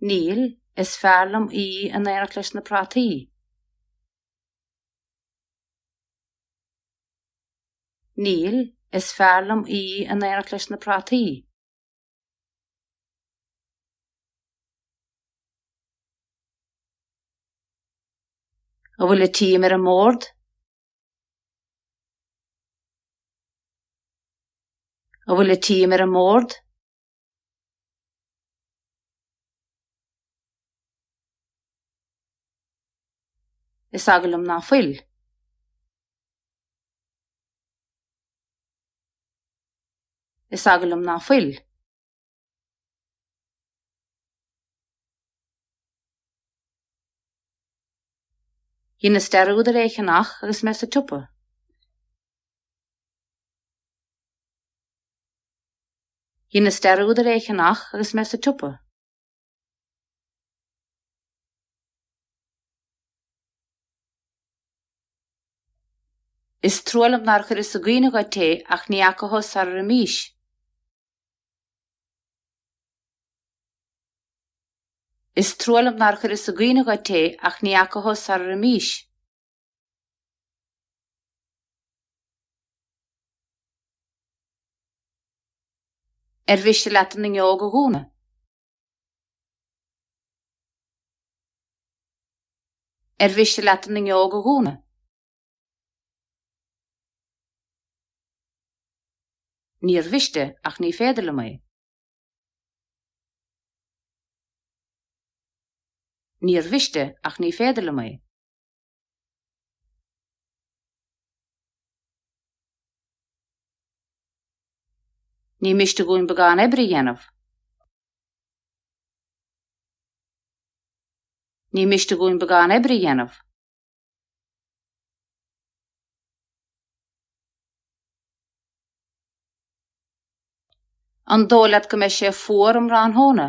Níl, is fearr liom í in éineacht leis na prátaí. Níl, is fearr liom í in éineacht leis na prátaí. An bhfuil an t-im ar an mbord? An bhfuil an t-im ar an mbord? Is eagal liom ná fuil. Is eagal liom ná fuil. Dheineas dearúd ar é a cheannach agus mé sa tsiopa. Dheineas dearúd ar é a cheannach agus mé sa tsiopa. Is trua liom nár chuireas i gcuimhne dhuit é ach ní fhaca thú sarar imís. Is trua liom nár chuireas i gcuimhne dhuit é ach ní fhaca thú sarar imís. Ar mhiste leat an fhuinneog a dhúnadh? Ar mhiste leat an fhuinneog a dhúnadh? Níor mhiste, ach ní féidir liom é. Níor mhiste, ach ní féidir liom é. Ní miste dhúinn beagán oibre a dhéanamh. Ní miste dhúinn beagán oibre a dhéanamh. An dóigh leat go mbeidh sé fuar um thráthnóna?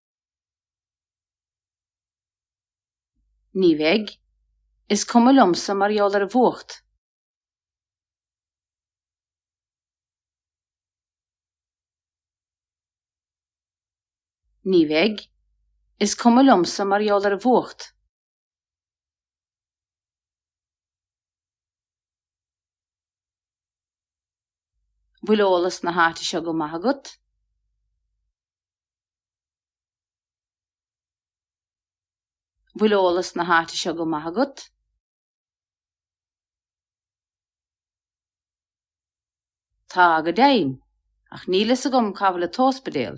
Ní bheidh. Is cuma liomsa mar gheall ar an bhfuacht. Ní bheidh. Is cuma liomsa mar gheall ar an bhfuacht. bhfuil eolas na háite seo go maith agat? bhfuil eolas na háite seo go maith agat? Tá, go deimhin, ach níl fhios agam cá bhfuil an t-óspidéal.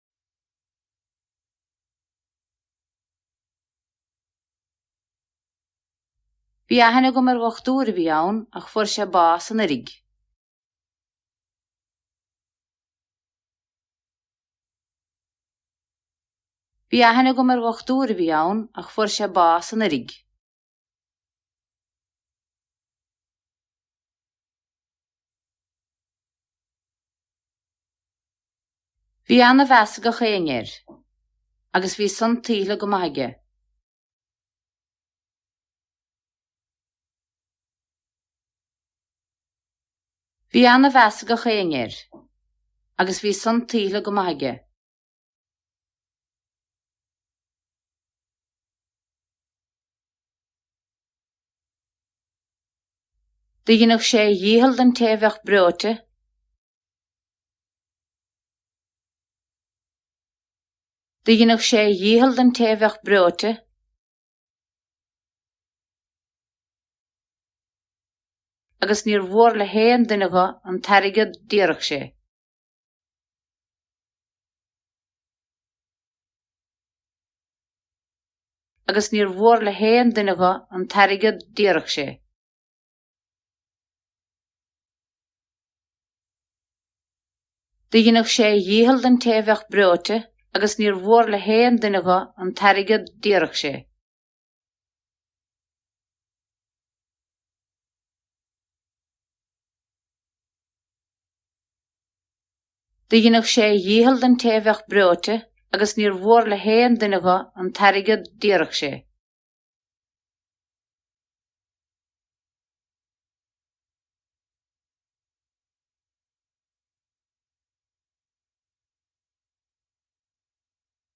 Bhí aithne agam ar dhochtúir a bhí ann ach fuair sé bás anuraidh. Bhí aithne agam ar dhochtúir a bhí ann ach fuair sé bás anuraidh. Bhí ana-mheas ag gach éinne air agus bhí san tuillte go maith aige. Bhí ana-mheas ag gach éinne air agus bhí san tuillte go maith aige. Do dheineadh sé a dhícheall don té a bheadh breoite. Do dheineadh sé a dhícheall don té a bheadh breoite. agus níor mhór le haon duine dho an t-airgead d'iarrfadh sé. agus níor mhór le haon duine dho an t-airgead d'iarrfadh sé. Do dheineadh sé a dhícheall don té bheadh breoite agus níor mhór le haon duine dho an t-airgead d'iarrfadh sé. Dheineadh sé a dhícheall don té a bheadh breoite agus níor mhór le haon duine dho an t-airgead d'iarrfadh sé.